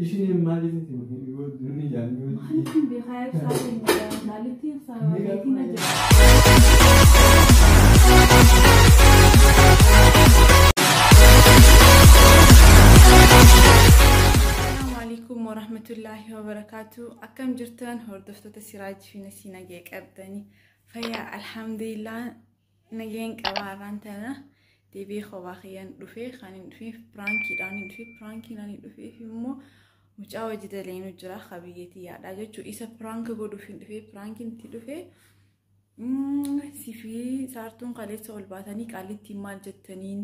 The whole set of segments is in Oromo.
Isheen maaliif itti hojii yoo durii jaallatu. Maaliifin beekaa ibsaa keenya jaallattiin isaa beetiin na jira. Assalamualaikum warahmatullahi wabarakatuh. Akkam jirtan hordoftoota Siraaj fi Nasiina ga'ee qabdanii fayyaa alhamdulillah Nageen qabaa irraan tana deebi'ee kophaa kiyyaan dhufee kan hin dhufeef piraankiidhaan hin dhufee piraankiin ani dhufeef immoo mucaa hojii daleenuu jira ka biyyeetii yaadhaa jechuun isa piraanka godhuuf hin dhufee piraankiin itti dhufee sifii saartuun kaleessa ol baatanii qaallittiin maal jettaniin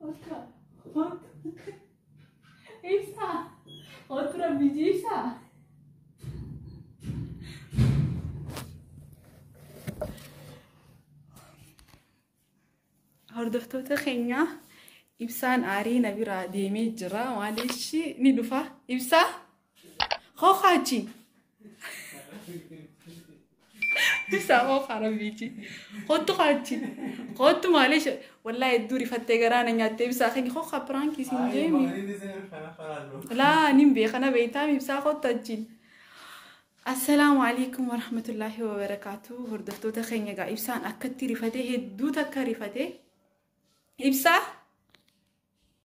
Bakka bakka ibsaa otura biji ibsaa. Hordoftoota keenya ibsaan aarii na biraa deemee jira maaliif ni dhufa ibsaa Hokachi. Isa hoka rabbichi. Kottu kachi. Kottu maali ishe. Wallahi hedduu rifattee garaa na nyaattee ibsaa keenya hoka piraanki isin jeemi. Laa nin beeka na beektaa ibsaa kottu achiin. Assalaamu alaikum warahmatullaahi wabarakaatu hordoftoota keenya egaa ibsaan akkatti rifatee hedduu takka rifatee ibsaa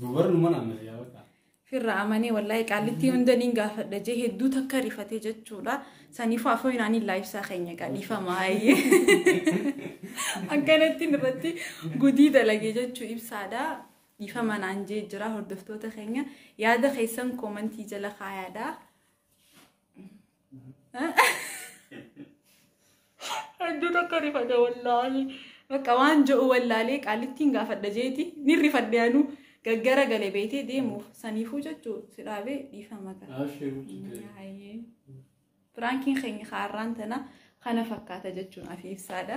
Dubarnu mana amma yaa bakka. Firra amanee wallahi qaallittii hunda niin gaafadha jee hedduu takka rifatee jechuudha. Saniifuu afoo inaanii laayibsaa keenya gadhiifama ayyee. Akkanatti irratti gudii dalagee jechuu ibsaadha. Dhiifama naan jee jira hordoftoota keenya yaada keessan koomantii jala kaayaadha. Hedduu tokko rifadhe wallaahi. Bakka waan je'u wallaalee qaalittiin gaafadha jeeti. Ni rifadhe anu gaggara gale beetee deemuuf saniifuu jechuu si dhaabee dhiifama qaba. Abshiru ችግር የለም። Hayyee. Piraankiin keenya kaarraan tana kana fakkaata jechuun afi ibsaadha.